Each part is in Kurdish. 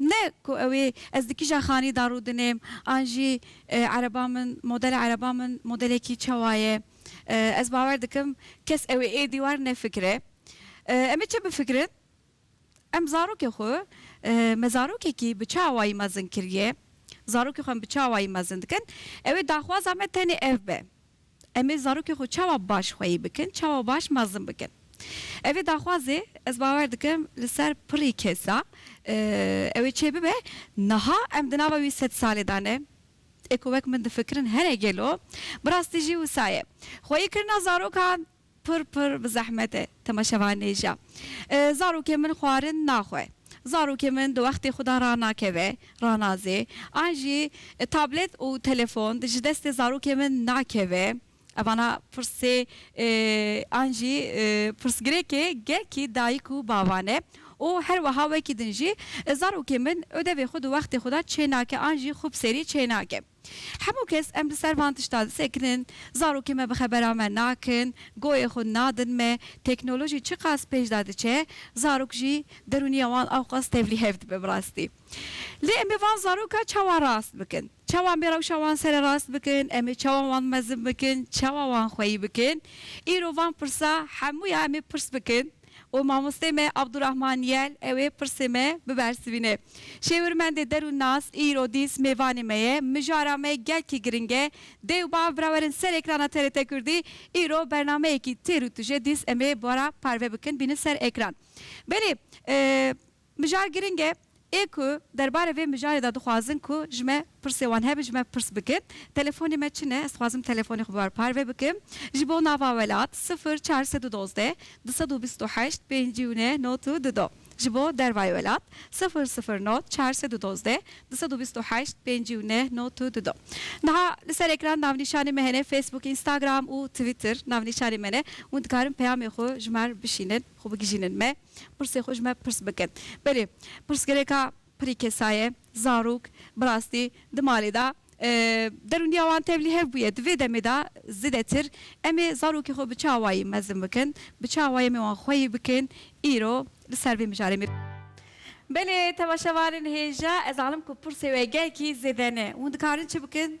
Ne ku ew ê ez di kîja xanî de rûdinêm an jî ereban min, modela ereban min modelekî çawa ye. Ez bawer dikim kes ew ê êdî war nefikire. Em ê çi bifikirin? Em zarokê xwe me zarokekî bi çi awayî mezin kiriye? Zarokê xwe em bi çi awayî mezin dikin? Ew ê daxwaza me tenê ev be. Em ê zarokên xwe çawa baş xweyî bikin, çawa baş mezin bikin. Ev ê daxwazê ez bawer dikim li ser pirrî kes da ew ê çê bibe. Niha em di nava wî sed salê da ne. Ê ku wek min difikirin hene gelo? Bi rastî jî wisa ye. Xweyîkirina zarokan Pir pir bi zehmet e temaşevanê ja. Zarokê min xwarin naxwe. Zarokê min di wextê xwe de ranakeve, ranazê. An jî tablet û telefon ji destê zarokê min nakeve. Evana pirsê an jî pirsgirêkê gelkî dayik û bavan e. Û her weha wekî din jî zarokê min ödevê xwe di wextê xwe de çênake an jî xwe bi serî çênake. Hemû kes em li ser van tiştan disekinin, zarokên me bi xebera me nakin, goyê xwe nadin me, teknolojî çiqas pêş de diçe, zarok jî derûniya wan awqas tevlî hev dibe bi rastî. Lê em ê van zaroka çawa rast bikin? Çawa em ê rewşa wan sererast bikin? Em ê çawa wan mezin bikin? Çawa wan xweyî bikin? Îro van pirsa hemû ya em ê pirs bikin. û mamosteyê me Abdurahman Yel ew ê pirsê me bibersivîne. Şêwirmendê der û nas îro dîs mêvanê me ye. Mijara me gelkî giring e. Dê û bav birawerin ser ekrana TRT Kurdî. Îro bernameyekî têr û tije dîs em ê bara parve bikin bînin ser ekran. Belê. Mijar giring e. Ê ku derbarê vê mijarê de dixwazin ku ji me pirsê wan hebe ji me pirs bikin. Telefonê me çi ne? Ez dixwazim telefonê xwe bi ber parve bikim. Ji bo nava welat sifir çar sed û dozdeh du sed û bîst û heşt pêncî û neh not û du do. Ji bo dervayê welat sifir sifir not çar sed û dozdeh du sed û bîst û heşt pêncî û neh not û du do. Niha li ser ekran navnîşanê me hene Facebook, Instagram û Twitter navnîşanê me ne hûn dikarin peyamê xwe ji me re bişînin. Xwe bigijînin me pirsê xwe ji me pirs bikin. Belê pirsgirêka pirî kesaye, zarok, bi rastî di malê de derûniya wan tevlî hev bûye. Di vê demê de zêdetir em ê zarokê xwe bi çi awayî mezin bikin, bi çi awayî em ê wan xweyî bikin îro li ser vê mijarê me. Belê temaşevanên hêja, ez zanim ku pirsê we gelkî zêde ne. Hûn dikarin çi bikin?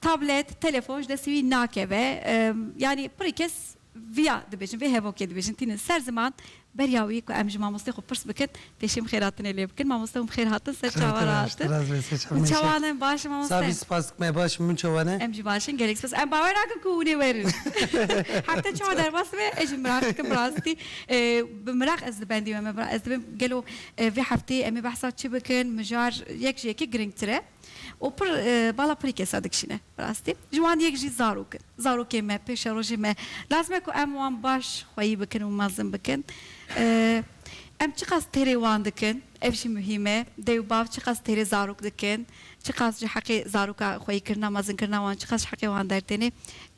Tablet, telefon ji destê wî nakeve. Yanî pirê kes viya dibêjin, vê hevokê dibêjin tînin ser ziman. Beriya wî ku em ji mamosteyê xwe pirs bikin, pêşêm xêratinê lê bikin. Mamoste hûn bi xêr hatin ser çawa re hatin? Hûn çawa ne? Baş in mamoste? Savî spas dikim me baş in, hûn çawa ne? Em jî baş in gelek spas. Em bawer nakin ku hûn ê werin. Hefte çawa derbas dibe ez jî miraq dikim bi rastî. Bi miraq ez li bendê me me ez dibim gelo vê hefteyê em ê behsa çi bikin mijar yek ji yekê giringtir e. û pir bala pirî kesa dikişîne. Bi rastî ji wan yek jî zarok in. Zarokên me, pêşerojên me lazim e ku em wan baş xweyî bikin û mezin bikin. Em çiqas têrê wan dikin, ev jî muhîm e. Dayê û bav çiqas têrê zarok dikin, çiqas ji heqê zaroka xweyîkirina, mezinkirina wan çiqas ji heqê wan dertêne,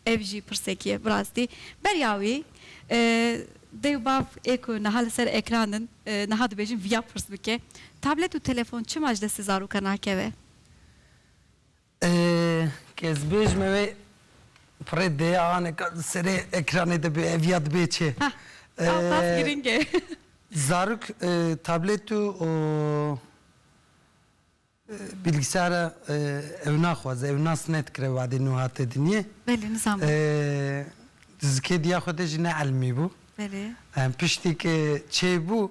ev jî pirsekî ye. Bi rastî beriya wî Dê û bav ê ku niha li ser ekran in, niha dibêjin viya pirs bike, Tablet û telefon çima ji destê zarokan nakeve? Kesbêj me wê pirê deyanek li serê ekranê de bê, ev ya dibê çi? Heh, ew qas giring e. Zarok tablet û. Bilgisayara ew naxwaze, ew nas nedikire wadê nû hate dinyê. Belê, nizam bû. Di zikêdiya xwe de jî ne elmî bû. Belê. Piştî ke çêbû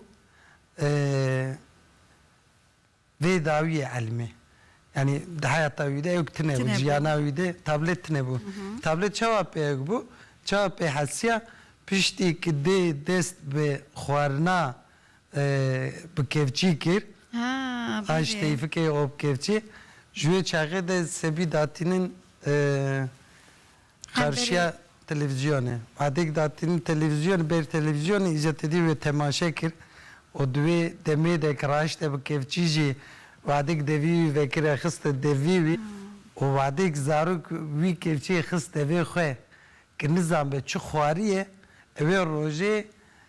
vê dawîyê elmî. Yanî di heyata wî de ew tune bû, jiyana wî de tablêt tune bû. Tablêt çawa pêk bû, çawa pê hesiya, piştî ke dê dest bi xwarina bi kevçî kir. A ji teyfikê û bi kevçî. Ji wê çaxê de sebî datînin qarşiya televîzyonê. Madê ku datînin televîzyonê, ber televîzyonê îcar tedî wê temaşe kir û di wê demê de ku raşte bi kevçî jî vadê ku devî wî vekire xiste devî wî û vadê ku zarok wî kevçiyê xist devê xwe ku nizanbe çi xwariyê, ew ê rojê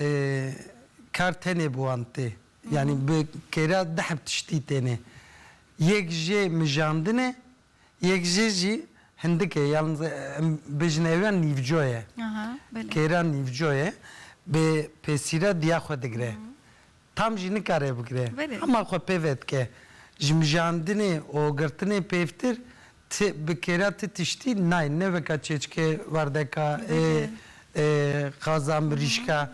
Ee, kar tenê bi wan tê. Yanî bi kêra deh bi tiştî têne. Yek jê mijandin e, yek jê jî hindik e yan em bêjin ew ya nîvco ye. Kêra nîvco ye, bi pêsîra diya xwe digire. Tam jî nikare bigire. Hema xwe pê ve dike. Ji mijandinê û girtinê pêvtir ti bi kêra ti tiştî nayê. Ne weka çêçikê werdeka ê ê xaza mirîşka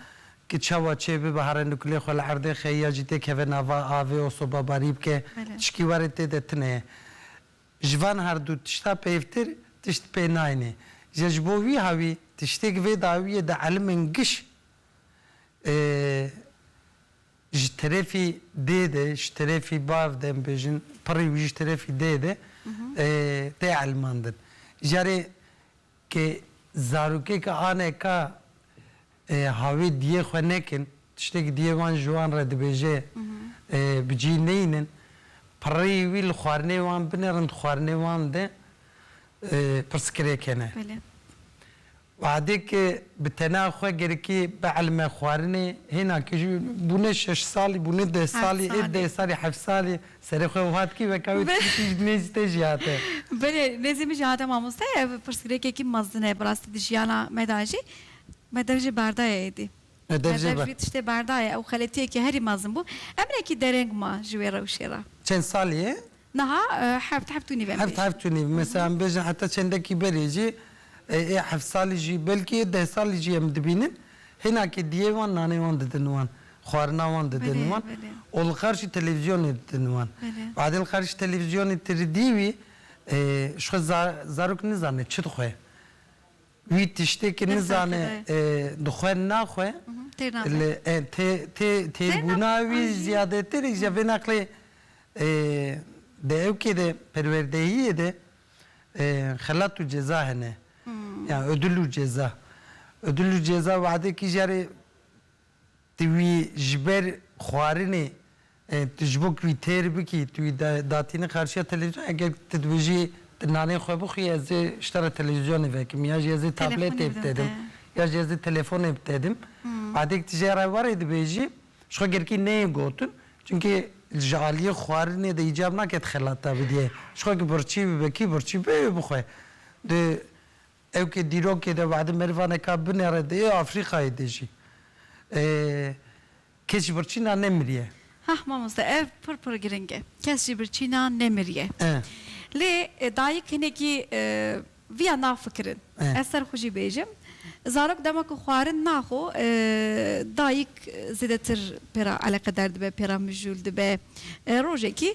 ki çawa çê bibihare nukulê xwe li erdê xe ya jî tê keve nava avê û sobabarî bike tişkî warê tê de tune ye. Ji van her du tişta pêvtir tişt pê nayêne. Îja ji bo wî hawî tiştê ki vê dawiyê de elimên giş ji terefî dê de ji terefî bav de em bêjin pirî û ji terefî dê de tê elmandin. Carê ke zarokeke aneka havê diyê xwe nekin, tiştekî diyê wan ji wan re dibêje bi cî neynin, pirî wî li xwarinê wan binerin di xwarinê wan de pirsgirêk hene. Badê ke bi tena xwe gerikê bi elme xwarinê hêna ke jî bûne şeş salî, bûne deh salî, ê deh salî, heft salî serê xwe wiha dikî weka wê tu dikî ji nêzî te jî hate. Belê, nêzî min jî hate mamoste. Ev pirsgirêkekî mezin e bi rastî di jiyana me de jî. Me dev jê berdaye êdî. Me dev jê wî tiştê berdaye. Ew xeletiyekî herî mezin bû. Em hinekî dereng ma ji wê rewşê re. Çend salî ye? Niha heft heft û nîv em bêjin. Heft heft û nîv. Mesela em bêjin heta çendekî berê jî ê heft salî jî belkî ê deh salî jî em dibînin hênakê diyê wan nanê wan didin wan, xwarina wan didin wan û li qarşî televîzyonê didin wan. Badê li qarşî televîzyonê ti ridî wî ji xwe zarok nizane çi dixwe. Wî tiştê ki nizane dixwe naxwe li tê têrbûna wî ziyadetêr îja vê neqlê di ewkê de perwerdehiyê de xelat û ceza hene yan udul û ceza udul û ceza wade kî jare Tu wî ji ber xwarinê tu ji bo ku wî têr bikî tu wî datîne qarşiya televîzyonê eger tu dibêjî tu nanê xwe bixwî ez ê ji te re televîzyonê vekim ya jî ez ê tabletê bi te din ya jî ez ê telefonê bi te din badê ku tu ji re warê dibêjî ji xwe girkî neyê gotin çimkî ji aliyê xwarinê de îcab nake tu xelat dabidîyê ji xwe ku birçî bibekî birçî bê wê bixwe di Ew ke dîrokê de wehdê merivaneka binêre dê Afrîqayê de jî keç birçîna nemiriye. Heh mamoste ev pir pir giring e. Kes jî birçîna nemiriye. Lê dayik hinekî viya nafikirin. Ez ser xwe jî bêjim. Zarok dema ku xwarin naxo dayik zêdetir pê re eleqedar dibe, pê re mijûl dibe. Rojekî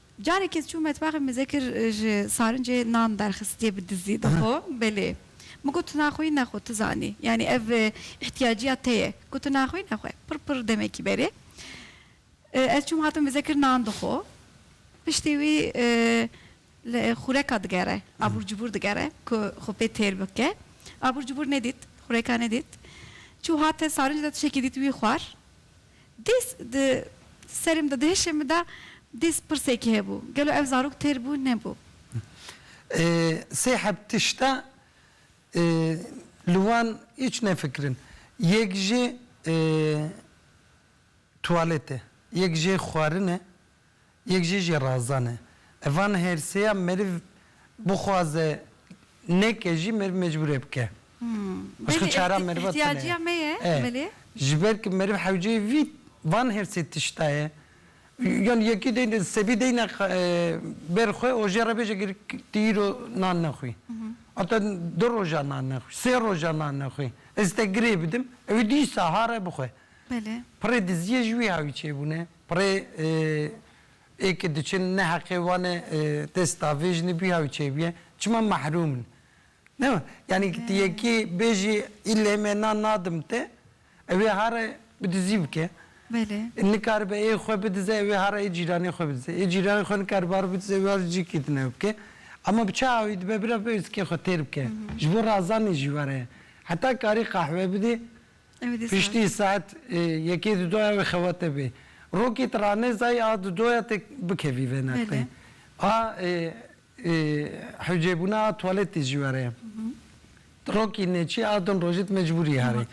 Carek ez çûm metbaxê min zêkir ji sarincê nan derxistiye bi dizî dixo belê. Min got tu naxwî nexwe tu zanî yanî ev îhtîyaciya te ye ku tu naxwî nexwe pir pir demekî berê ez çûm hatim bi zêkir nan dixo piştî wî li xûreka digere abûr cibûr digere ku xwe pê têr bike abûr cibûr nedît xûreka nedît çû hate sarinc de tişekî dît wî xwar Dês di serê min de, di hişê min de dês pirsekî hebû, gelo ev zarok têr bû, nebû? Sê heb tişt e, li wan hîç nefikirin. Yek jî tuwalet e, yek jê xwarin e. Yek jî jê razane. Ev van hêrsê ya meriv bixwaze neke jî meriv mecbûr e bike. Başka çara meriva tune ye. Belê îhtiyacîya me ye belê. E, ji ber ku meriv hewceyê vî van hêrsê tişta ye. Yanî yekî deyne sebî deyne ber xwe û jê re bêje gir tu îro nan nexwî. Heta du roja nan nexwî, sê roja nan nexwî. Ez te girê bidim, ew ê dîsa hare bixwe. Belê. Pirê diziyê ji wî hawî çêbûne. Pirê ê ke diçin ne heqê wan e dest da vê jinê bûye ew çê bûye çima mehrûm in. Ne yanî ti yekê bêjî îlê me nan nadim te ew ê hare bi dizî bike. Nikaribe ê xwe bidize ew ê hare ê cîranê xwe bidize. Ê cîranê xwe nikaribe hare bidize ew ê hare cîkê din ew bike. Ema bi çi awî dibe bira bi êrskê xwe têr bike. Ji bo razanê jî were ye. Heta karî qehwe bidê Piştî saet yekê di doya wê xewete bê. Rokî ti ranê zayî a di doya te bikevî vê neqlê. A hewcêbûna a tuwaletê jî were ye. Ti rokî neçî a din rojê ti mecbûr î herî.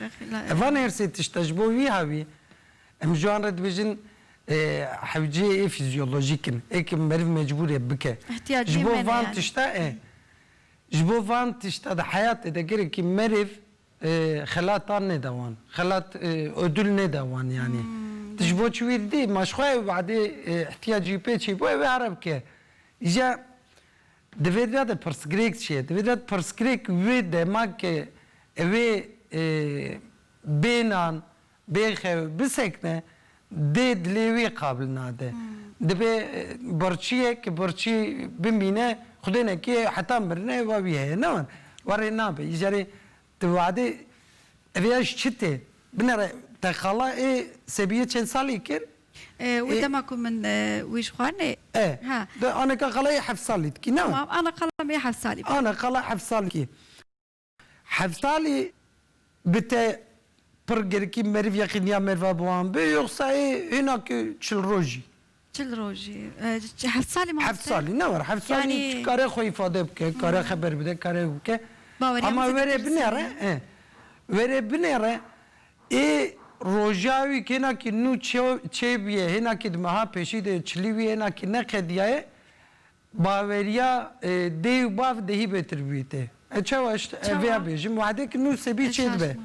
Ev van her sê tişt e ji bo wî hewî. Em ji wan re dibêjin hewcê ê fîzyolojîk in. Ê ke meriv mecbûr e bike. Ji bo van tişta e. Ji bo van tişta di heyatê de gerekî meriv Xelat an nêda wan. Xelat ödül nêda wan yanî. Tu ji bo çi wî didî? Ma ji xwe ew badê îhtiyacî pê çê bû ew ê here bike. Îja divê de de pirsgirêk çê. Divê de de pirsgirêk wê dema ke ewê bênan Bêxew bisekine dê dilê wî qabil nade. Dibe birçîye ki birçî bimîne xwedê nekê heta mirine wa wî heye ne wan. Warê nabe îcarê ti wade evê ya ji çi tê? Binere te xala ê Sebîye çend salî kir? Wi dema ku min wî ji xwarinê. E. Ha. Di aneka xala ê heft salî dikî ne wan. Tamam ana xala me heft salî bû. Ana xala heft salî dikî. Heftalî bi te pir girkî meriv yeqîniya merva bi wan bi yoxsa ê hêna ku çil rojî? Çil rojî. Heftalî mamoste? Heftalî ne war. Heftalî kare xwe îfade bike, kare xeber bide, kare ew bike. Baweriya min zêde pirsî ye. Were binêre ê roja wî hêna ku nû çêbûye, hêna ku di meha pêşî de çilî wî hêna ku ne qediyaye Baweriya dê û bav dehî bêtir bûyî tê. Ez çawa ez vêya bêjim, wehdek nû sebî çê dibe.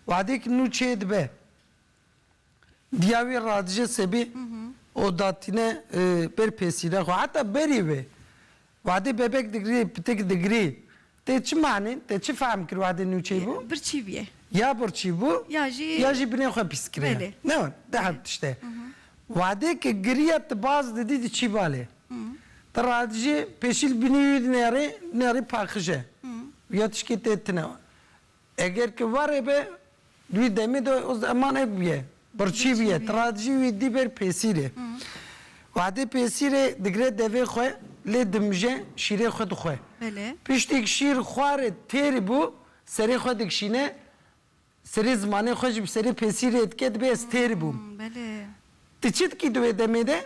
Wehdek nû çê dibe. Diya wî radije sebî û datîne ber pêsîre xwe. Heta berî wê, wehdê bebek digirî, pitik digirî, Tê çi manî, tê çi fehm kir wadê nûçeyî bû? Birçî bûye. Ya birçî bû ya jî binê xwe pîs kiriye. Ne wan, di hev tişt e. Wadê ke giriye ti baz didî di çî balê. Ti radijî pêşîl binî wî di nêrî, di nêrî paqij e. Wîya tişkê tê tine. Eger ki warê be, di wî demê de o zeman ev bûye, birçî bûye, tradjî wî dî ber pêsîrê. Wehdê pêsîrê digre devê xwe lê dimije şîrê xwe dixwe. Piştîk şîr xware têr bû, serê xwe dikişîne, serê zimanê xwe ji bi serê pêsîrê dike, dibe ez têr bûm. Tu çi dikî di wê demê de?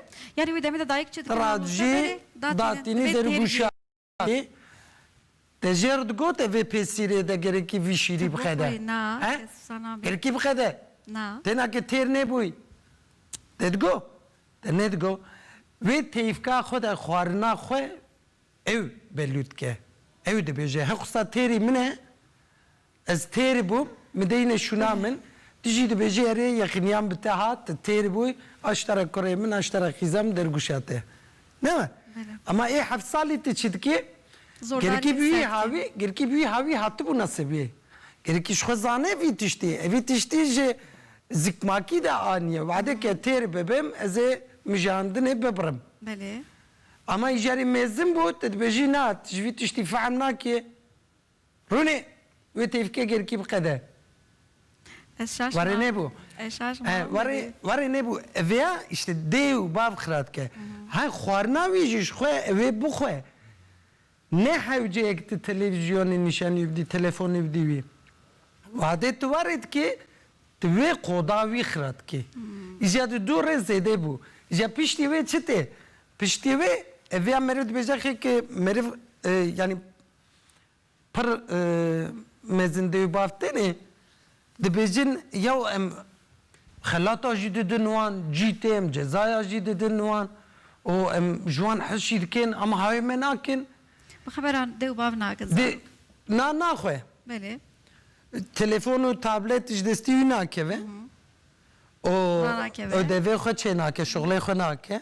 Tradjî datînî dergûşa. Lê te jê re digote vê pêsîrê de gerekî vî şîrî bixede? He? Gerekî bixede? Têna ke têr nêbûy te digo? Te nedigo. Wê teyfka xwe de xwarina xwe ew belût dike. Ew dibêje, Hexusa têrî min e, Ez têr bûm, min deyne şûna min, tu jî dibêjî erê yexîniyan bi te hat, tu têr bûy, aştera kurê min, aştera xîza min dergûşa te. Ne we? Ema ê heft salî tu çi dikê? Gerekî bi wî hawî, gerekî bi wî hawî hatibû nasibî. Gerekî ji xwe zane vî tiştî. Ev vî tiştî ji zikmakî de aniye. Wade ke têr bibim, ez ê mijandinê bibirim. Ema îjarê mêzin bû, tu dibêjî na, tu ji vî tiştî fehm nakê. Rûnê wê têvkê gêrkî biqede. Ez şaşma. Warê nêbû. Ez şaşma. Warê warê nêbû. Vêya îşte dê û bav xira dike. He xwarina wî jî ji xwe wê bixwe. Ne hewceyek tu televîzyonê nîşanî bidî, telefonê bidî wî. Wadê tu warê dikê, tu wê qoda wî xira dikê. Îja di dû rê zêdê bû. Îja piştî wê çi tê? Piştî wê vêya meriv dibêje xêkê meriv yanî Pir mezin dê û bav tenê dibêjin yaw em xelata jî didin wan, cî tê em cezaya jî didin wan û em ji wan hez jî dikin ama hawê me nakin. Bi xeberan dê û bav nakin zarok. Na naxwe. Belê. Telefon û tablet ji destî wî nakeve û odevê xwe çênake, şixulê xwe nake.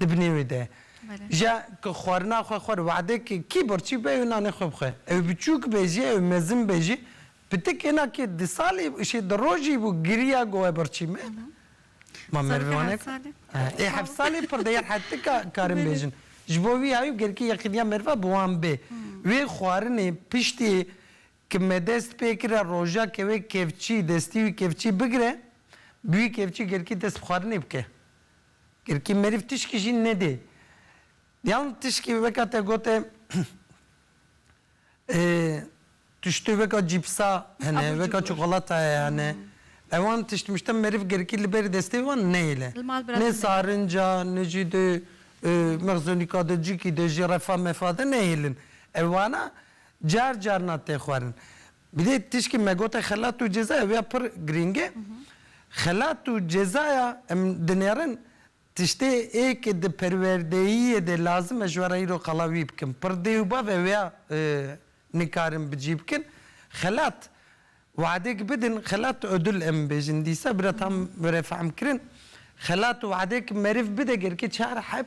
Di binê wê de jîya ku xwarina xwe xwar wade ke kî birçî be ew nanê xwe bixwe. Ew biçûk be jî ew mezin be jî pitik hêna kê di salî şê di rojî bû giriya ku we birçî me. Ma merivê wan heke? Ê heft salî pir diyar hete ka karin bêjin. Ji bo wî hayû gelkî yexîniya meriva bi wan bê. Wê xwarinê piştî ki me dest pê kira roja ke wê kevçî destî wî kevçî bigire bi wî kevçî gelkî dest bi xwarinê bike. Girkî meriv tişkî jî nedê. Yan tişkî weka te got e tiştê weka cîpsa hene, weka çikolatayê hene. Ewan tişt mişt e meriv girkî li ber destê wan neyêle. Nê sarinca ne jî di mexzonîka de cikî de jî refa mefa de neyêlin. Ewana car carna tê xwarin. Bi dê tişkî me gote xelat û ceza ew ya pir girîng e. Xelat û cezaya em dinêrin tiştê ê ke di perwerdeyiyê de lazim e ji we re îro qala wî bikin. Pir dê û bav ew ya nikarin bi cî bikin. Xelat weadek bidin, xelat odul em bêjin dîsa bira tam were fehm kirin. Xelat weadek meriv bide gerikê çar heb.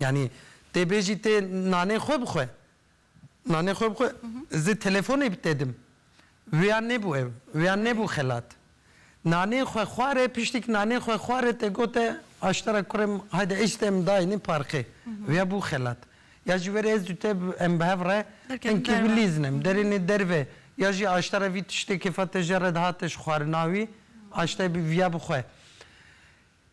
Yanî tê bêjî tê nanê xwe bixwe. Nanê xwe bixwe zê telefonê bite dim. Wêya nebû ew. Wêya nebû xelat. Nanê xwe xware piştîk nanê xwe xware te gote aştera kurê min hayde êş te min dayînê parxê. Wêya bû xelat. Ya ji werê ez û te em bi hev re hin kîbilîzin em derênê derve ya jî aştera vî tiştê kêfa te jere dihate ji xwarina wî aşteyê bî vîya bixwe.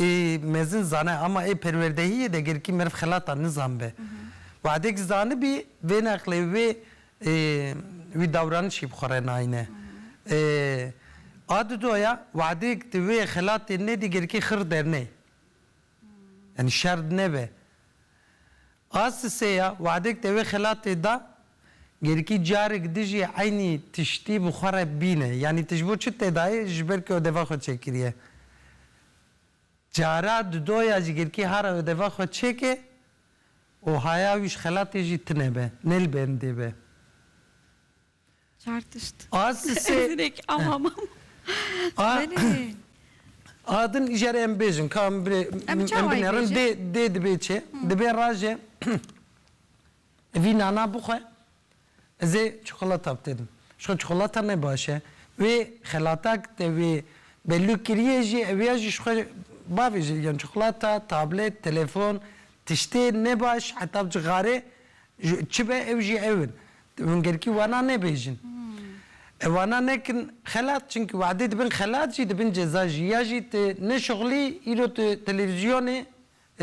Ê mezin zane ama ê perwerdehiyê de gerkî meriv xelata nizanbe. Wehdek zanibî vê neqlê wê ê wî dawranişî bi xwe re nayne. Ê a di do ya wehdek di wê xelatê nedî gerkî xir derney. Yanî şer nebe. A sisê ya wexdek te wê xelatê da, gerikî carek di jî eynî tiştî bi xwe re bîne. Yanî tu ji bo çi tê dayê ji ber ku odeva xwe çêkiriye. Cara di do ya jî gerikî hara odeva xwe çêke û haya wî ji xelatê jî tune be, ne li bendê be. Çar tişt. Az li sê. Direk ama mam. A. Adin îjarê em bêjin ka em birê em binêrin dê dê dibê çê dibê rajê vî nana bixwe ez ê çikolata bitêdim. Ji xwe çikolata ne baş e. Wê xelatak te wê belûk kiriye jî ew ya jî ji xwe bavê jê digiyan. Çikolata, tablêt, telefon tiştê ne baş heta bi cixarê Çi be ew jî ew in. Hûn gerkî wana nebêjin. Ew wana nekin xelat çimkî wahidê dibin xelat jî dibin ceza jî. Ya jî tu nişixulî îro tu televîzyonê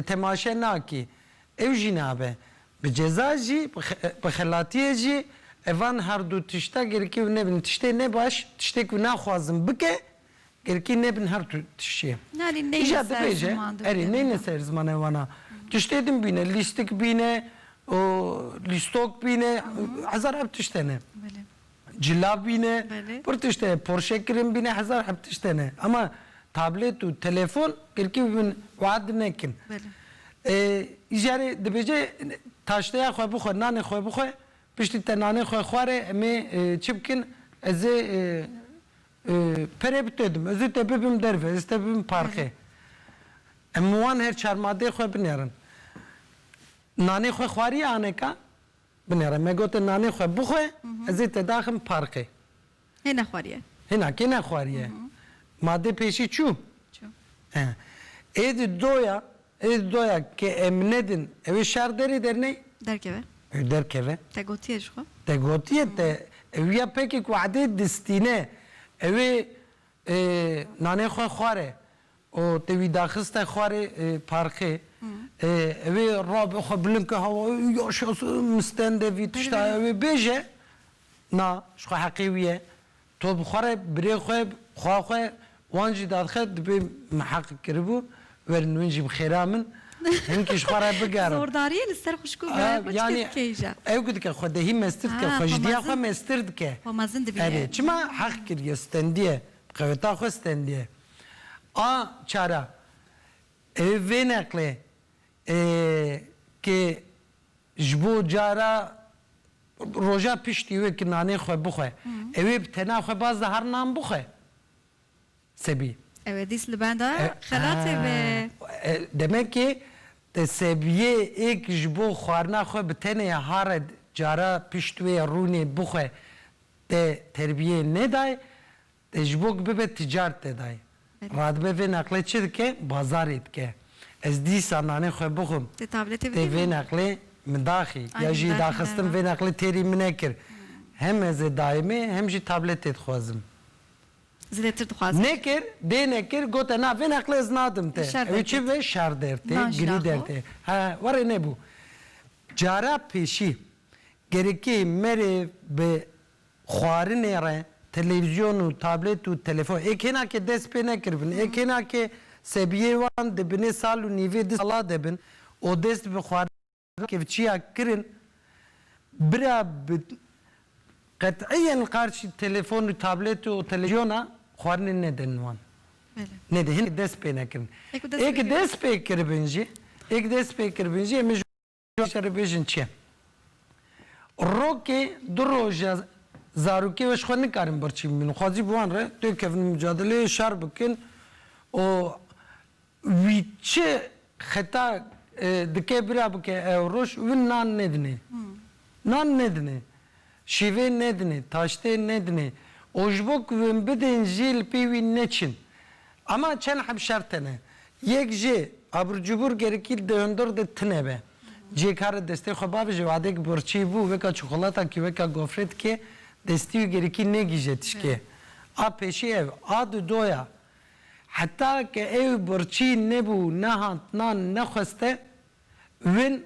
temaşe nakî. Ew jî nabe. Bi ceza jî bi xelatiyê jî evan herdu tişta gerkî ew nebin. Tiştê ne baş, tiştê ku naxwazin bike Girkî nebin her tu tiştê. Îja dibêje, erê neyne ser zimane wan a. Tiştê din bîne, lîstik bîne, lîstok bîne, hezar heb tişt hene. Cila bîne, pir tişt heye, porşe kirin bîne, hezar heb tişt hene. Ama tablêt û telefon girkî bibin wead nekin. Îja rê dibêje taşteya xwe bixwe, nanê xwe bixwe, piştî te nanê xwe xware em ê çi bikin, ez ê Pere bi te dim. Ez ê te bibim derve, ez ê te bibim parqê. Em min wan her çar madeyê xwe binêrin. Nanê xwe xwariye aneka? Binêre. Me gotin nanê xwe bixwe, ez ê te daxim parqê. Hê nexwariye. Hê na kê nexwariye. Madê pêşî çû? Çû. Ê di doya Ê doya ke em nedin ewê şer derê derney? Derkeve. Ê derkeve. Te gotiye jixwe? Te gotiye te ewiya pekek wade distîne ewê nanê xwe xware û te wî daxiste xwarê parxê ewê rabe xwe bilind ke hawa ê yaşas û mistende vî tişta ewê bêje na jixwe heqê wî ye To bi xwe re, birê xwe, xwa xwe, wan jî dadxe dibê miheqik kiribû, werin win jî bi xêra min, hin kî ji xwe re bigerin. Zordariyê li ser xwişk û birayê xwe çike dike îja? Ew ku dike, xwedehî mestir dike, xwejidiya xwe mestir dike. Xwe mezin dibîne. Erê, çima heq kiriye, stendiye, bi qeweta xwe stendiye. A çara, ew ê vê neqlê, ê, kê. Ji bo cara roja piştî wê ki nanê xwe bixwe, ew ê bi tena xwe baz de her nan bixwe. Sebî. Ew ê dîs li benda xelatê be. Demekê Sebiyê ê ki ji bo xwarina xwe bi tenê hare cara pişt wê rûnê bixwe te terbiyê nedaye, Te ji bo ku bibe tîcar te daye. Radibe vê neqlê çi dike? Bazarê dike. Ez dîsa nanê xwe bixwim. Te tabletê bidî min. Tê vê neqlê min daxî. Ya jî daxistin vê neqlê têrî min nekir. Hem ez ê dayimê hem jî tabletê dixwazim. Zêdetir dixwazim. Nekir, dê nekir, gote na vê neqlê ez nadim te. Ew çi be? Şer der tê, girî der tê. He, warê nebû. Cara pêşî, gerekî merê bi Xwarinê re televîzyon û tablêt û telefon ê kêna ke dest pê nekiribin, ê kêna ke sebiyê wan di binê sal û nîvê di sala de bin û dest bi xwarina kevçiya kirin, bira bi qet'iyen qarşî telefon û tablêt û televizyona xwarinê nedin wan. Nedin, hinekî dest pê nekirin. Ê ke dest pê kiribin jî, ê ke dest pê kiribin jî em ê ji. Rojê re bêjin çi ye? Rokê du roja zarokê we ji xwe nikarin birçî bibînin. Xwezî bi wan re tê kevin mucadeleyê şer bikin û wî çi xeta dike bira bike ew roj win nan nêdinê. Nan nêdinê. Şîvê nedinê, taştê nedinê û ji bo ku win bidin jî li pî wî neçin. Ema çend heb şert hene. Yek jî abircûbûr gerikî di hundir de tune be. Cê kare destê xwe bave ji wadek birçî bû weka çikolata kî weka gofre dike destî û gerikî negîje tişkê. A pêşî ev, a di do ya. Heta ke ew birçî nebû, nehand nan nexweste win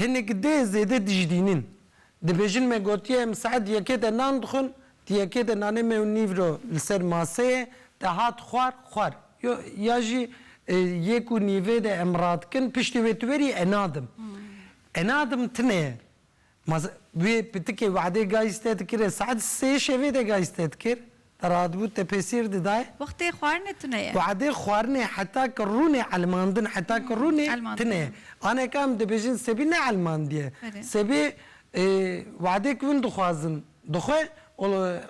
Hinek dê zêde dijdînin. Dibêjin me gotiye em saet yekê de nan dixwin, di yekê de nanê me û nîvro li ser maseyê te hat xwar, xwar. Yo, ya jî yek û nîvê de em radikin, piştî wê tu werî e nadim. E nadim tine ye. Ma wê pitikê Wade gayîste dikir e saet sê şevê de gayîste dikir. Te radibû te pêsîr didaye. Wextê xwarinê tune ye. Wextê xwarinê heta ke rûnê elmandin heta ke rûnê tune ye. Aneke em dibêjin sebî ne elmandiye. Sebî wextê ke hûn dixwazin dixwe û li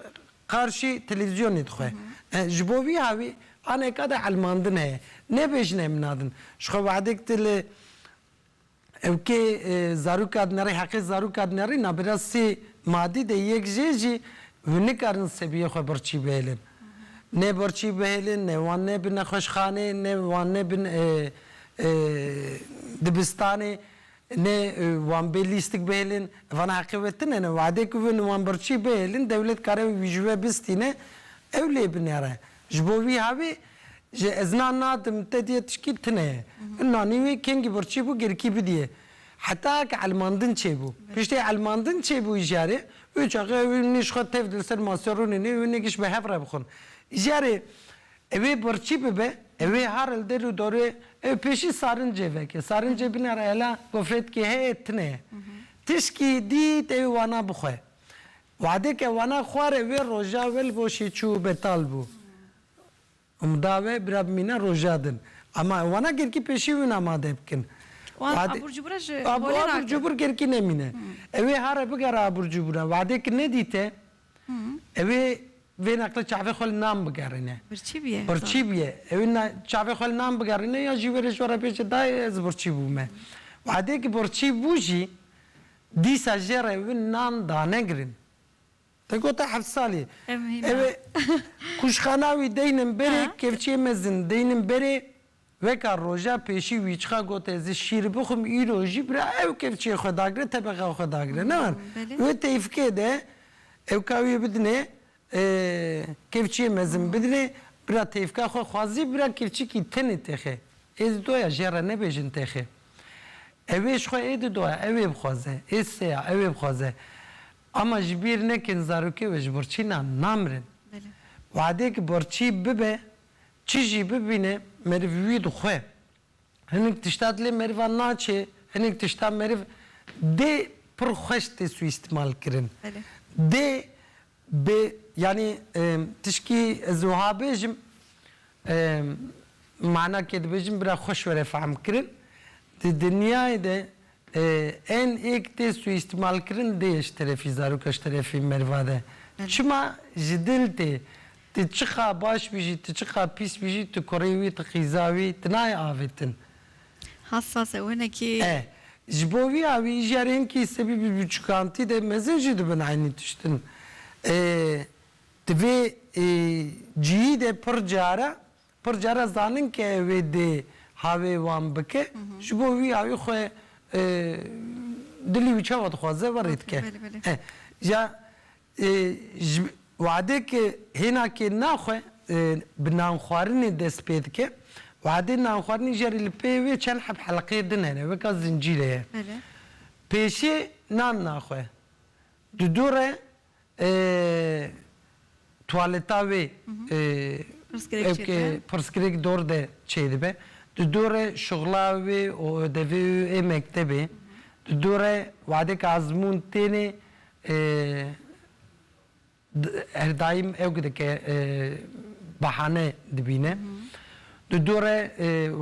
qarşî televîzyonê dixwe. Ji bo vî hawî aneke de elmandin heye. Nebêjin em nadin. Jixwe wextê ke tu li Ew kê zarûka dinerê heqê zarûka dinerê nabêra sê madî de yek jê jî wê nikarin sebiyê xwe birçî bihêlin. Ne birçî bihêlin, ne wan nebin nexweşxanê, ne wan nebin dibistanê, ne wan bê lîstik bihêlin. Vana heqê we tune ne. Wade ku wê wan birçî bihêlin dewlet kare wî ji we bistîne ew lê binêre. Ji bo vî havê jî ez na nadim te diyê tişkî tune ye. Min nanî wê kengî birçî bû girkî bidiyê. Heta ke elmandin çêbû. Piştî elmandin çêbû îjarê wê çaxê ew ê nîş xwe tevd li ser masîya rûnê nê wê nêgiş bi hev re bixwin. Îjarê ew ê birçî bibe ew ê har li der û darê ew pêşî sarincê veke. Sarincê binare hela gofretkê heye tune ye. Tişkî dît ew ê wana bixwe. Wadê ke wana xwarê wê roja we li goşê çû betal bû. Umda we bira bimîne roja din. Ema ew wana gerkî pêşî win amade bikin. Wan Wadê abûr cubûre ji holê Abû abûr nakin. cubûr gerkî nemîne. Ew ê here bigere abûr cubûre. Wadê ki nedîte ew ê vê neqle çavê xwe li nan bigerîne. Birçî bûye. Birçî bûye. Ew ê çavê xwe li nan bigerîne ya jî were ji we re bêje dayê ez birçî bûme. Wadê ki birçî bû jî Dîsa jê re wî nan dane girin. Te gote heft salî. Ev hîna. Kuşxana wî deynin berê, kevçiyê me zin deynin berê. Weka roja pêşî wî çiqa gote ez ê şîr bixwim îro jî bira ew kevçiyê xwe dagire tebexa xwe dagire. Newr wê teyfikê de ew ka wî bidinê Kevçiyê mezin bidivê, bira têvka xwe xwazî bira kevçikî tenê têxê. Ê di doya jê re nebêjin têxê. Ewê ji xwe ê di doya ewê bixwaze, ê seya ewê bixwaze. Ama ji bîr nekin zarokê wê ji birçîna namirin. Wadê ki birçî bibe, çi jî bibîne meriv wî dixwe. Hinek tişta dilê merivan naçê, hinek tişta meriv dê pir xweş tê sûîstimal kirin. Dê bi yanî tişkî ez wiha bêjim mana kê dibêjim bira xweş were fehmkirin. Di dinyayê de Ên êk tê sûîstîmalkirin dê ji terefî zaroka ji terefê merva de çima ji dil tê. Tu çiqa baş bî jî tu çiqa pîs bî jî tu kurê wî tu qîza wî tu nayê avêtin. Hassas e wenekî. E ji bo wî a wî jî erê hinkî sebî bi biçûkantî de mezin jî dibin eynî tiştin. Di vê cihî de pir care Pir care zanin ke wê dê havê wan bike, ji bo wî havê xwe dilî wî çawa dixwaze werê dike. Ja ji wadê ke hêna kê naxwe bi nanxwarinê dest pê dike, wadê nanxwarinî jî erê li pê wê çend heb heleqeyê din hene, weka zincîrê ye. Pêşê nan naxwe, di dû re Tuwaleta wê pirsgirêk dor de çêdibe. Di dorê şixla wê û ödevê wê ê mektebê, di dorê wadeke ezmûn tênê her daîm ewk dike behane dibîne. Di dorê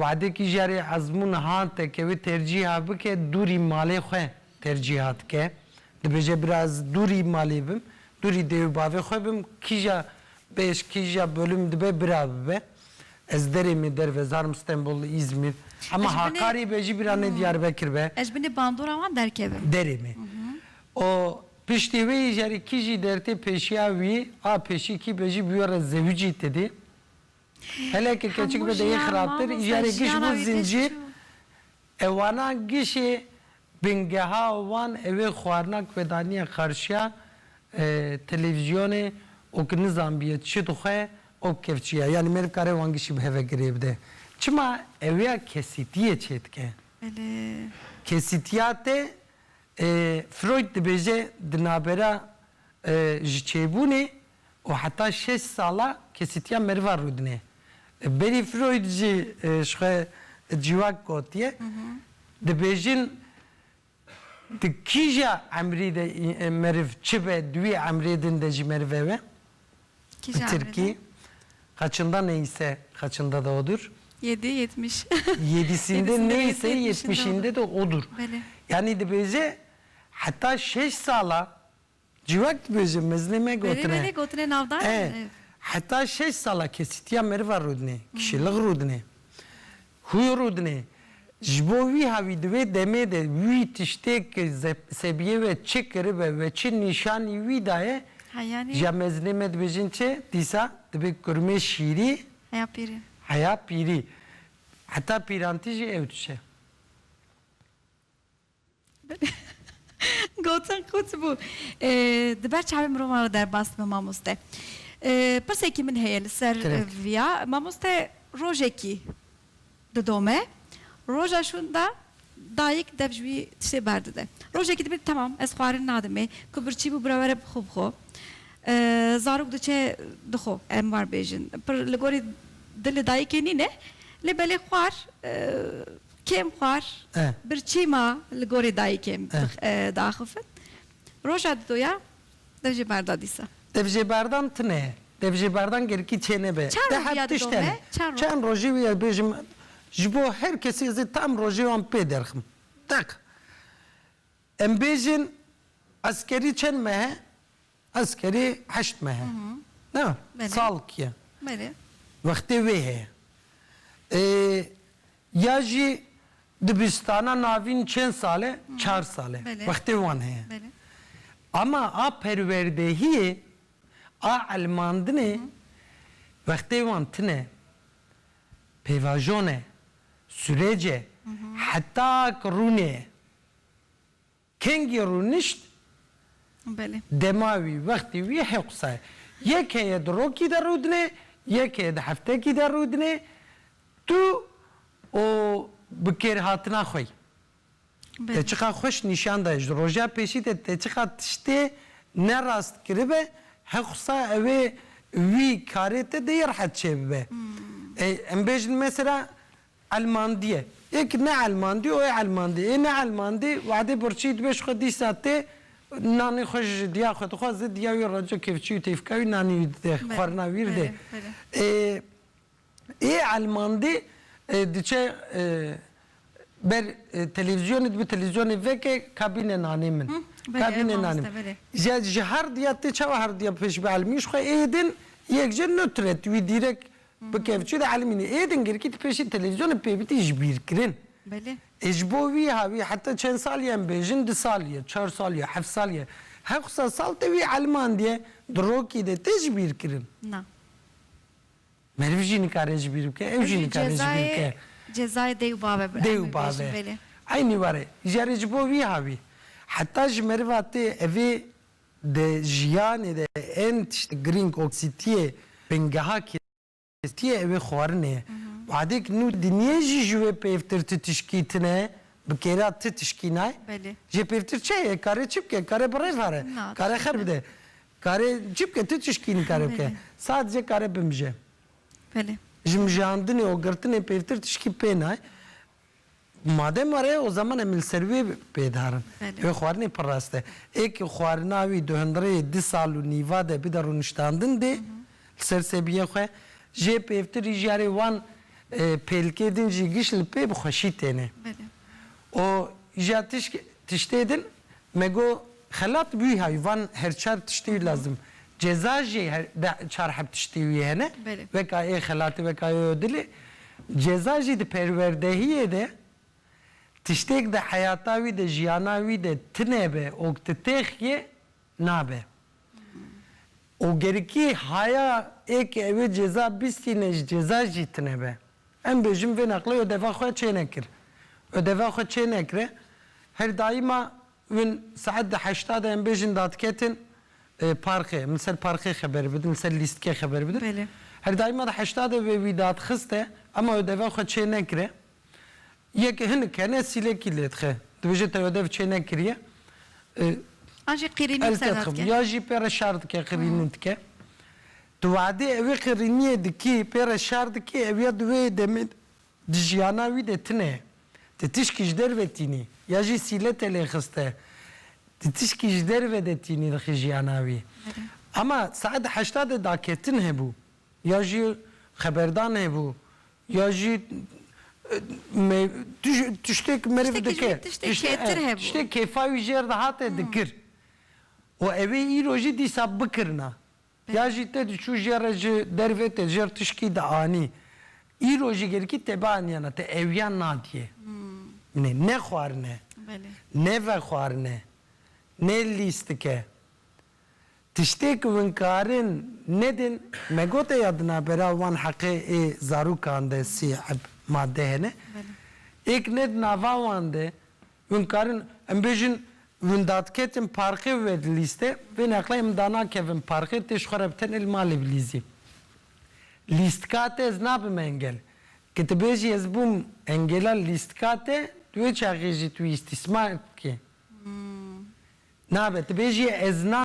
wadekî jî erê ezmûn hate ke wê tercîha bike dûrî malê xwe Tercîha dike. Dibêje bira ez dûrî malê bim, dûrî dê û bavê xwe bim, kîja bêj, kîja bölüm dibe bira bibe. Ez derê me derve zarim Stenbol, Îzmîr. Hema Hakarî be jî bira ne Diyarbekir be. Ez ji binê bandora wan derkevim. Derê me. Û piştê wê jî erê kîjî dertê pêşiya wî a pêşî kî be jî bi wê re zewicî tedê. Heleke keçik be deyê xirabtir, jarê giş bû zincîr e wana gişê bingeha wan ew ê xwarina ku daniye qarşiya televîzyonê û ku nizanbiye çi dixwe û kevçî ye. Yanî meriv kare wan gişî bi heve girê bide. Çima ewya kesîtiyê çê dike. Kesîtiya te Freud dibêje di navbera ji çêbûnê û heta şeş sala kesîtiya meriva rûdine. Li berî Freud jî ji xwe civak gotiye. Dibêjin di kîja emrî de meriv çi be di wî emrê din de jî meriv ew e. Kîja emrê de? Kaçında neyse kaçında da odur. Yedi yetmiş. Yedisinde neyse yetmişinde de odur. Belê. Yanî dibêje heta şeş sala Cîwek dibe ji miznê me gotine. Belê belê gotine navdar in. E, heta şeş sala kesîtiya meriva rûdinê, kişêlix rûdinê, hûy rûdinê. Ji bo wî havî di wê demê de wî tiştêk sebiyê we çi kiribe we çi nîşanî wî daye, ya mezinê me dibêjin çi, dîsa dibe kurmê şîrî, heya pîrî. Heya pîrî. Heta pîrantî jî ew tişe. Gotin qût bû. Di ber çavê mirovan re derbas dibe mamoste. Pirsekî min heye li ser viya. Mamoste rojekî didome, roja şûn de dayik dev ji wî tiştê berdide. Rojekî dibe temam ez xwarin nadimê. Ku birçî bû bira were bi xwe bi xwe. Zarok diçe di xwe em war bêjin. Pir li gorî dilê dayikê nîne lê belê xwar. Kêm xwar birçî ma li gorî dayîkê diaxifin. Roja didoya dev jê berda dîsa. Dev jê berdan tune ye. Dev jê berdan gerikî çênebe. Çend rojî ya dido me? Çend rojî wî ez bêjim ji bo her kesî ez ê tam rojê wan pê derxim. Deq. Em bêjin eskerî çend mehe? Ez kerê heşt mehe ne sal kiye wextê wê heye ya jî dibistana navîn çend sal e çar sal e wextê wan heye ema a perwerdehiyê a elmandinê wextê wan tine pêvajon e surec e heta ki rûnê ye. Kengî rûnişt dema wî, wextê wî hê qisa ye. Yek heye di rokî de rûdine, yek heye di heftekî de rûdine. Tu û bi kêrhatina xwe yî. Te çiqa xweş nîşan daye, ji roja pêşî de te çiqa tiştê ne rast kiribe, hê qisa ew ê wî karê te dê yê rehet çêbibe. Em bêjin mesela. Elmandîye. Ê ki ne elmandî û ê elmandî. Ê ne elmandî wadê birçî dibe ji xwe dîsa tê nanê xwe ji diya xwe dixwe zid diya wî reco kevçî û têfka wî nanî wî dide xwarina wî ridê. Ê ê elmandî diçe ber televîzyonê dibe televîzyonê veke ka bîne nanê min. Ka bîne nanê min. Ja ji her diya tê çawa her diya pêşbe elmî ji xwe ê din yek je notret wî dîrek Bi kevçû de elmîne. Êdin girkî di pêşî televîzyonê pêbitî jibîrkirin. Ê ji bo wî ha wî heta çend sal ye em bêjin du sal ye, çar sal ye, heft sal ye, hewsa sal te wî elmandiye di rokî de tê jibîrkirin. Na. Meriv jî nikare jibîr bike, ew jî nikare jibîr bike. Ew jî cezayê dêw bavê bi em ê bêjin belê. Eynî were. Jarê ji bo wî ha wî. Heta ji meriva tê evê Di jiyanê de ên tişt girîng oksîtiyê bingeha kêstiyê ew ê xwarinê ye. Badêk nû dinyê jî ji wê pêvtir ti tişkî tine, bi kêra ti tişkî nay. Jê pêvtir çi heye? Kare çi bike? Kare bi rêv here, kare xer bide, kare çi bike? Ti tişkî nikare bike. Sadece kare bimije. Ji mijandinê û girtinê pêvtir tişkî pê nay. Madem were o zaman em li ser wê bêdarin. Wê xwarinê pir rast e. Ê ku xwarina wî di hundirê du sal û nîva de bide rûniştandin dê li ser sebiyên xwe. Jê pêvtirî jî erê wan pêlikê din jî giş li pê bi xweşî têne. Û îja tişkê tiştê din Me got, Xelat wî hay van her çar tiştî wî lazim. Ceza jî her deh çar heb tiştî wî hene. Weka ê xelatê weka ê odilê. Ceza jî di perwerdehiyê de tiştêk di heyata wî de jiyana wî de tine be ok ti têx yê nabe. Ogerikî haya ê ke ewê ceza bîstîne ji ceza jî tine be. Em bêjim vê naqlê ödeva xwe çênekir. Ödeva xwe çênekre, her daima win saet di heşta de em bêjin dadiketin parqê, min ser parqê xeber bidin, li ser lîstikê xeber bidin. Her daima di heşta de vê wî dadxiste ema ödeva xwe çênekire. Yek hinik hene sîlekî lêdixe. Dibêje te ödev çênekiriye. An jî qirînî bi ser dadike. Ya jî pê re şar dike, qirînî dike. Di vadê ewê qirîniyê dikî, pê re şer dikî, ew ya di wê demê de di jiyana wî de tune ye. Di tişkî ji derve tînî, ya jî sîle te lê xiste, di tişkî ji derve de tînî dixî jiyana wî. Ema saet heşta de daketin hebû, ya jî xeberdan hebû, ya jî me tiştêk meriv dike, tiştêk kêfa wî jêr dihate dikir. Û ewê îro jî dîsa bikirina. Ya jî tê diçû jê re ji dervê tê jê re tişkî dianî. Îro jî gelkî tê bianîyana te ewiyan nadîyê. Min ê ne xwarin e, ne vexwarin e, ne lîstik e. Tiştê ku hûn karin nedin, me gote ya di navbera wan heqê ê zarokan de sî eb made hene. Ê ku ne di nava wan de. Hûn dikarin, em bêjin hûn dadiketin parqê wê di lîste vê neqleyê min danakevin parqê tê ji xwe re bi tenê li malê bilîzî. Lîstika te ez nabim engel. Ke tu bêjî ez bûm engêla lîstika te di wê çaxê jî tu îstîsmar dikî. Nabe tu bêjî ez na.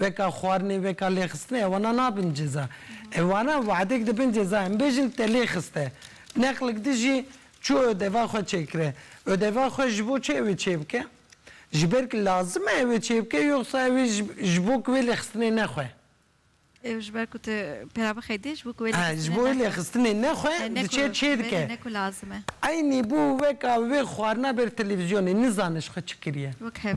Veka xwarinê, veka lêxistinê ewana nabin ceza. Ewana wehdek dibin ceza. Em bêjin te lê xiste. Neqlik din jî çû ödeva xwe çêkire. Ödeva xwe ji bo çi ew ê çêbike? Ji ber ku lazim e ew ê çêbike yoxsa ew ê ji bo ku wê lêxistinê nexwe? Ew ji ber ku tu pêra bixeyî dê, ji bo ku wê lêxistinê nexwe. Ji bo wê lêxistinê nexwe diçe çê dike. Ne ku lazim e. Eynî bû weka wê xwarina ber televîzyonê. Nizane ji xwe çi kiriye. Wek hev.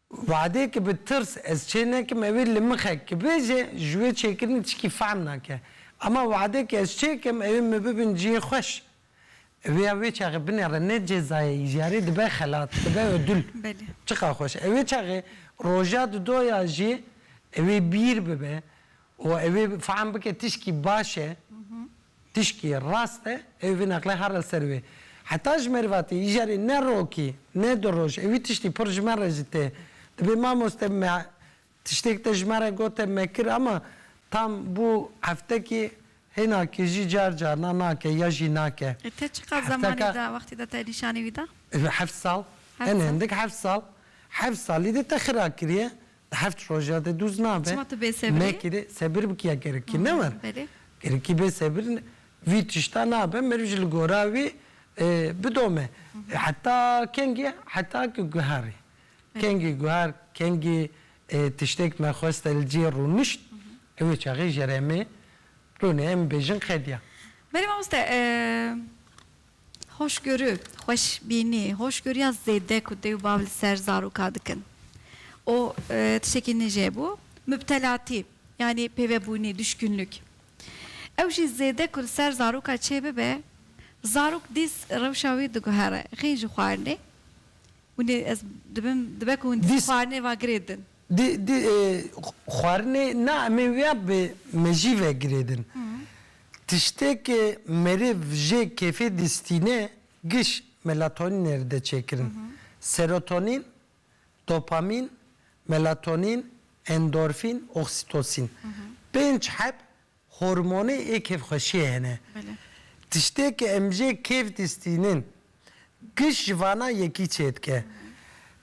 Wehdê ki bi tirs ez çê nekim ew ê li mixek ki bêje ji wê çêkirinê tişkî fehm nake. Ema wehdê ki ez çê kim ew ê min bibin cihê xweş. Ew ê ya wê çaxê binê re ne ceza ye îjarê dibe xelat, dibe ödül. Belê. Çiqa xweş. Ew ê çaxê roja di do ya jî ew ê bîr bibe û ew ê fehm bike tişkî baş e. Tişkî rast e, ew vî neqlê her li ser wê. Heta ji mervatî îjarê ne rokî, ne du roj, ewî tiştî pir ji me re jî tê. Dibê mamoste me tiştêk te ji me re gote me kir ama tam bû heftekî hênakî jî car carna nake ya jî nake. E te çiqas zemanî da wextî de te nîşanî wî da? Heft sal. Heft sal. Hin hindik heft sal. Heft salî de te xira kiriye. Di heft roja de dûz nabe. Çima tu bê sebir î? Nekire sebir bikî ya gerikî ne war. Belê. Gerikî bê sebir ne. Vî tişta nabe meriv ji li gora wî bidome. Heta kengê heta ku guherî. Kengê guher kengê tiştêk me xweste li cê rûnişt ew wê çaxê jere me rûne em bêjin qediya. Belê mamoste Hoşgörû, xweşbînî, hoşgoriya zêde ku dê û bav li ser zaroka dikin û tiştekî nij e bo, mubtelatî yanî pêvebûnî, duşkûnlik. Ew jî zêde ku li ser zaroka çê bibe, zarok dîs rewşa wî diguhere, xîn ji xwarinê, hûn ê ez dibim, dibe ku hûn dîs xwarinê va girêdin. Di di xwarinê na emê wîya bi mejî ve girêdin. Tiştêke merêv jê kêfê distîne giş melatonîn ê ride çêkirin. Serotonîn, dopamîn, melatonîn, endorfîn, oksîtosîn. Pênc heb Hormonê ê kêfxweşiyê hene. Tiştê ke em jê kêf distînin. Giş ji vana yekî çêdike.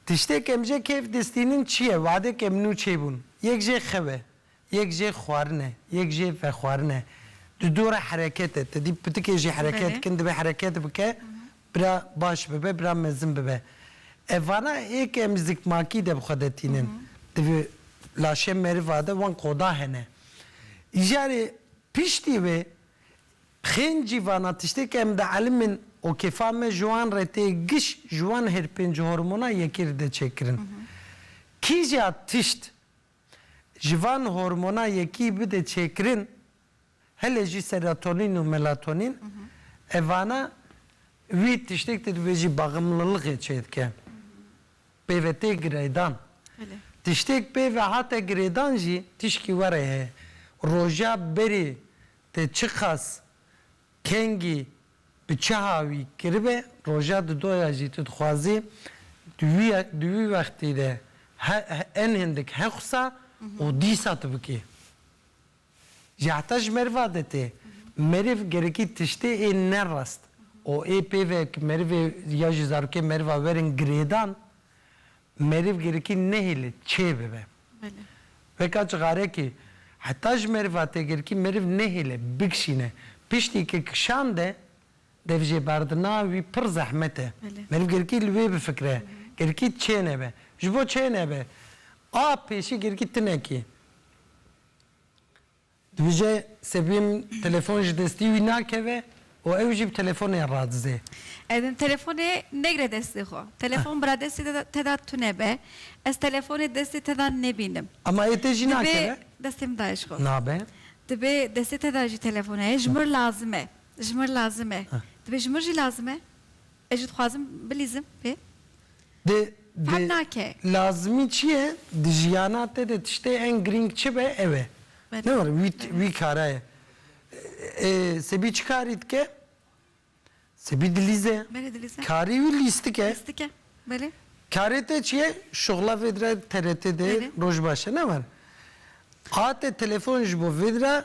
Tiştê ke em jê kêf distînin çi ye? Wadê ke em nû çêbûn. Yek jê xew e. Yek jê xwarin e. Yek jê vexwarin e. Di dû re hereket e. Te dî pitikê jî hereket dikin. Divê hereket bike. Bira baş bibe, bira mezin bibe. Ev vana ê ke em ji zikmakî de bi xwe de tînin. Divê laşê meriva de wan koda hene. Îcarê piştî wê xênd jî vana tiştê ke em dielîmin û kêfa me ji wan re tê giş ji wan her pênc hormona yekê re tê çêkirin. Kîja tişt ji van hormona yekî bide çêkirin, Hele jî serotonîn û melatonîn e vana wî tiştêk te divê jî baximliliqê çêdike. Pêve tê gireydan. Tiştêk pêve hate girêdan jî tişkî were ye. Roja berê te çiqas kengî bi çi hawî kiribe roja di do ya jî tu dixwazî di wî ya di wî wextî de he en hindik hexusa û dîsa tu bikî. Ji heta ji meriva de tê. Meriv gerekî tiştê ê ne rast û ê pêve ki merivê ya ji zarokê meriva werin girêdan, meriv gerekî nehêle çê bibe. Weka cixarekî heta ji meriva tê gerekî meriv nehêle bikişîne. Piştî ki kişande dev jêberdina wî pir zehmet e. Meriv gerekî li wê bifikire. Gerekî çê nebe. Ji bo çê nebe a pêşî gerekî tinekî. Dibêje sebîm telefon ji destî wî nakeve û ew jî bi telefonê radize. Telefonê negre destê xwe. Telefon bira destê te de tune be. Ez telefonê destê te de nebînim. Ema ê te jî nakeve? Dibê destê min daye ji xwe. Nabe. Dibê destê te de jî telefon heye. Ji min lazim e. Ji min lazim e. Dibê ji min jî lazim e? Ez jî dixwazim bilîzim pê. Di, di, lazimî çi ye? Di jiyana te de tiştê ên girîng çi be ew e. Ne were wî, wî kara ye. E, Sebî çi karî dike? Sebî dilîze ye. Belê dilîze ye. Karî wî lîstik e. Lîstik e, belê. Karê te çi ye? Şixula vêdire TRT de roj baş e, ne were. A te telefon ji bo vêdire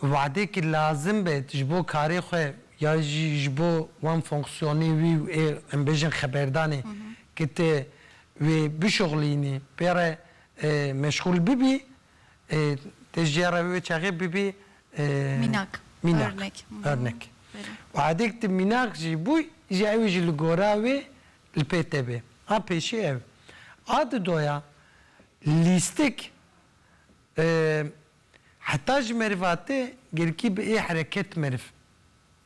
Wade ki lazim be ji bo karê xwe ya jî ji bo wan fonksiyonê wî û ê em bêjin xeberdanê ki tu wê bişuxlînî pê re meşxûl bibî tu jê re wê çaxê bibî Mînak, örnek, örnek. Wade ki tu mînak jî bû îja ew jî li gora wê li pê te bê. A pêşî ev. A di doya lîstik Heta ji merivate girkî bi ê hereket meriv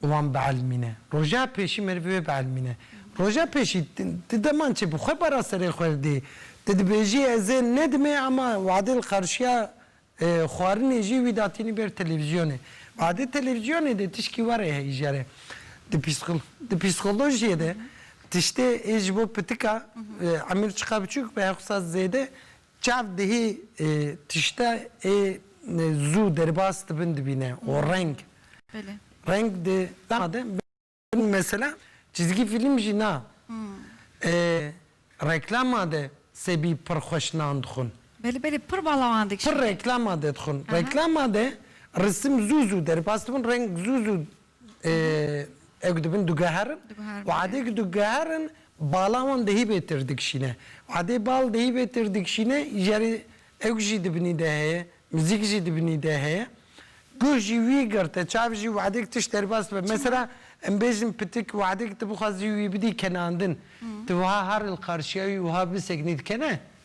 wan bielmîne. Roja pêşî meriv wê bielmîne. Roja pêşî ti demançê bi xwe bara serê xwe re dê. Ti dibêjî ez ê nedimê ema wade li qarşiya xwarinê jî wî datînî ber televîzyonê. Wade televîzyonê de tişkî warê heyijere. Di di psîkolojiyê de tiştê ê ji bo pitika emir çiqa biçûk be her xwisa zêde Çav dihê tişte ê zû derbas dibin dibîne û reng reng di dema de bin mesela çîzgî fîlm jî na reklama de sebî pir xweş nan dixwin. Belê belê pir balawan dikşîne. Pir reklama de dixwin. Reklama de risim zû zû derbas dibin reng zû zû Ew ku dibin diguherin û edê ku diguherin bala wan dihî bê tir dikişîne. Edê bal dihî bê tir dikişîne îjarê ewk jî di binî de heye, mizîk jî di binî de heye. Guh jî wî girte, çav jî wedê ku tişt derbas dibe. Mesela em bêjin pitik wedê ku tu bixwazî wî bidî kenandin, tu wiha heril qarşiya wî wiha bisekinî dikene?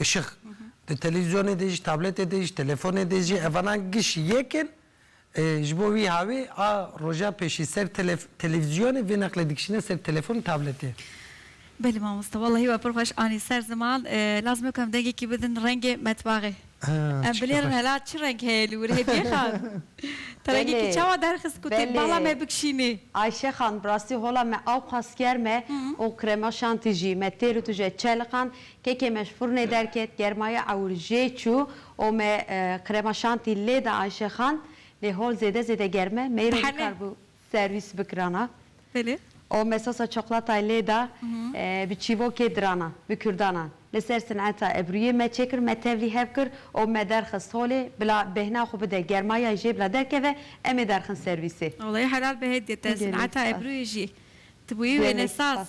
Işıq, di televîzyonê de jî, tabletê de jî, telefonê de jî evanan giş yek in. Ji bo wî havê a roja pêşî ser televîzyonê vê neqlê dikişîne ser telefon û tabletê. Belê mamosta wellahî we pir xweş anî ser ziman. Lazim e ku em dengekî bidin rengê metbaxê. Em bilêrin hela çi reng heye li wir Hedîye xan? Te rengekî çawa derxist ku tu bala me bikişînî? Ayşe xan bi rastî hola me awqas germ e û krema şantî jî. Me têr û tije çeliqand Kekê me ji furnê derket, germaya ewil jê çû û me krema şantî lê da Ayşe Xan. Lê hol zêde zêde germ e, meyro nikaribû serwîs bikirana. Û me sosa çoklatayê lê da bi çîvokê dirana, bi kurdana. Li ser sineta ebrûyê me çêkir, me tevlî hev kir û me derxist holê bila bêhna xwe bide, germaya jê bila derkeve, em ê derxin serwîsê. Walayi helal be hêdî te, sineta ebrûyê jî ti bûyî wêne saz.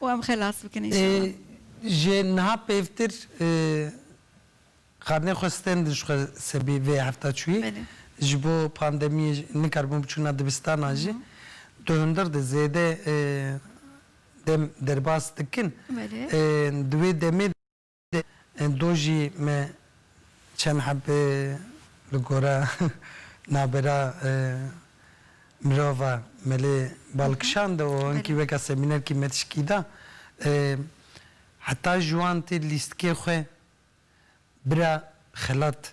Û em xelas bikin înşallah. Ji niha pêvtir xarinê xwe stend in ji xwe sebî vê hefta çûyî ji bo pandemiyê nikaribûn biçûna dibistanan jî di hundir de zêde dem derbas dikin di wê demê de. Do jî me çend hebê li gora navbera mirova melê bal kişande û hinkî weke semînerkî me tişkî da. Heta ji wan tê lîstikê xwe bira xelat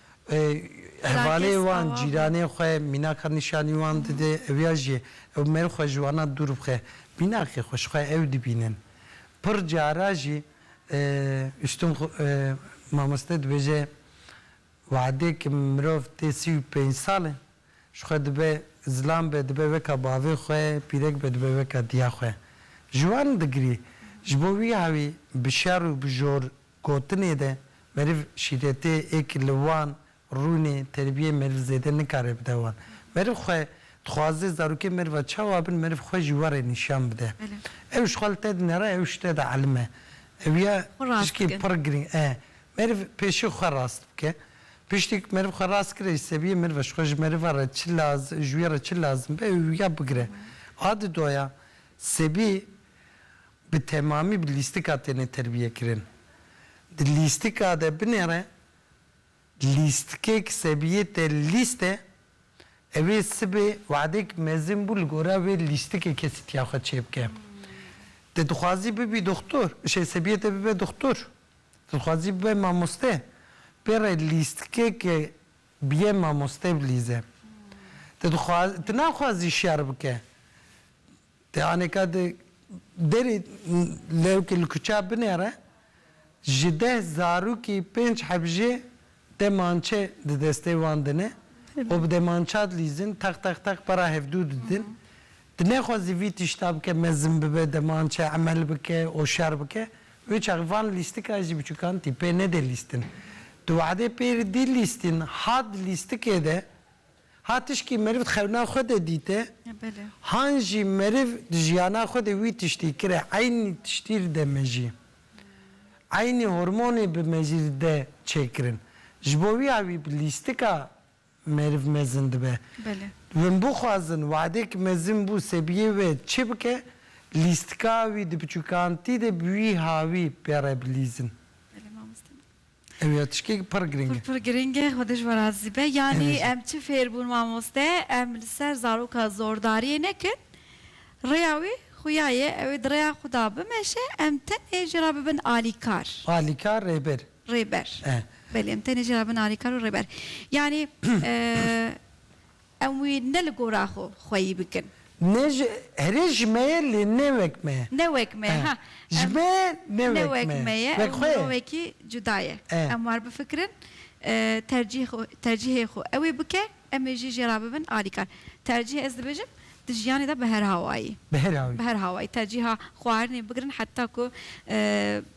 Hevalê wan cîranê xwe mînaka nîşanî wan dide, ew ya jî ew mêr xwe ji wana dûr bixe, mînakê xwe ji xwe ew dibînin. Pir cara jî Ustum Mamoste dibêje We'dê ke mirov tê sî û pênc sal e ji xwe dibe zilam be dibe weka bavê xwe, pîrek be dibe weka diya xwe. Ji wan digirî ji bo wî hawî bi şer û bi jor Gotinê de meriv şîretê ê ki li wan rûnê terbiyê meriv zêde nikare bide wan. Meriv xwe dixwaze zarokên meriva çawa bin meriv xwe ji warê nîşan bide. Ew ji xwe li te dine re ew ji te de elim e. Ew ya tişkê pir giring e. Meriv pêşî xwe rast bike. Piştî ku meriv xwe rast kire jî sebiyê meriv e ji xwe ji meriva re çi lazim ji wî re çi lazim be ew ya bigire. A di doya sebî bi temamî bi lîstika têne terbiyekirin. Di lîstika de binêre lîstkek sebiyê te lîst e, ew ê sibê weadek mezin bû li gora wê lîstikê kesîtiya xwe çêbike. Te dixwazî bibî doxtor, şey sebiyê te bibe doxtor, te dixwazî bibe mamoste, pê re lîstkeke biyê mamoste bilîze. Te dixwa, tu naxwazî şer bike. Yani ka di derê lewkê li kuçe binêre, ji deh zarokî pênc heb jê deh mançe di destê wan din e û bi deh mança dilîzin, teq teq teq para hevdû didin. Di nexwazî vî tişta bike, mezin bibe, deh mançe emel bike û şer bike. Wê çaxê van lîstikan jî biçûkan tî pê nedê lîstin. Di wehdê pêrî dî lîstîn, hat di lîstikê de Ha tişkî meriv di xewna xwe de dîte, han jî meriv di jiyana xwe de wî tiştî kire, eynî tiştî li de mejî, eynî hormonê bi mejî li de çêkirin. Ji bo wî ya wî bi lîstika meriv mezin dibe. Win bixwazin wadê ki mezin bû sebiyê wê çi bike, lîstika wî di biçûkantî de bi wî ha wî pê re bilîzin. Ew ya tişkek pir girîng e. Pir girîng e, Xwedê ji we razî be. Yanî em çi fêr bûn mamoste, em li ser zaroka zordariyê nekin, rêya wê xuya ye, ew ê di rêya xwe de bimeşe, em tenê jê re bibin alîkar. Alîkar, rêber. Rêber. Belê, em tenê jê re bibin alîkar û rêber. Yanî. Em wî ne li gora xwe xweyî bikin. Ne ji herê ji me ye lê ne wek me ye. Ne wek me ye ha. Ji me ye ne wek me ye. Wek xwe ye. Ew mirovekî cuda ye. Em war bifikirin tercîhê xwe ew ê bike em ê jî jê re bibin alîkar. Tercîh ez dibêjim di jiyanê de bi her hawayî. Bi her hawayî. Bi her hawayî tercîha xwarinê bigirin heta ku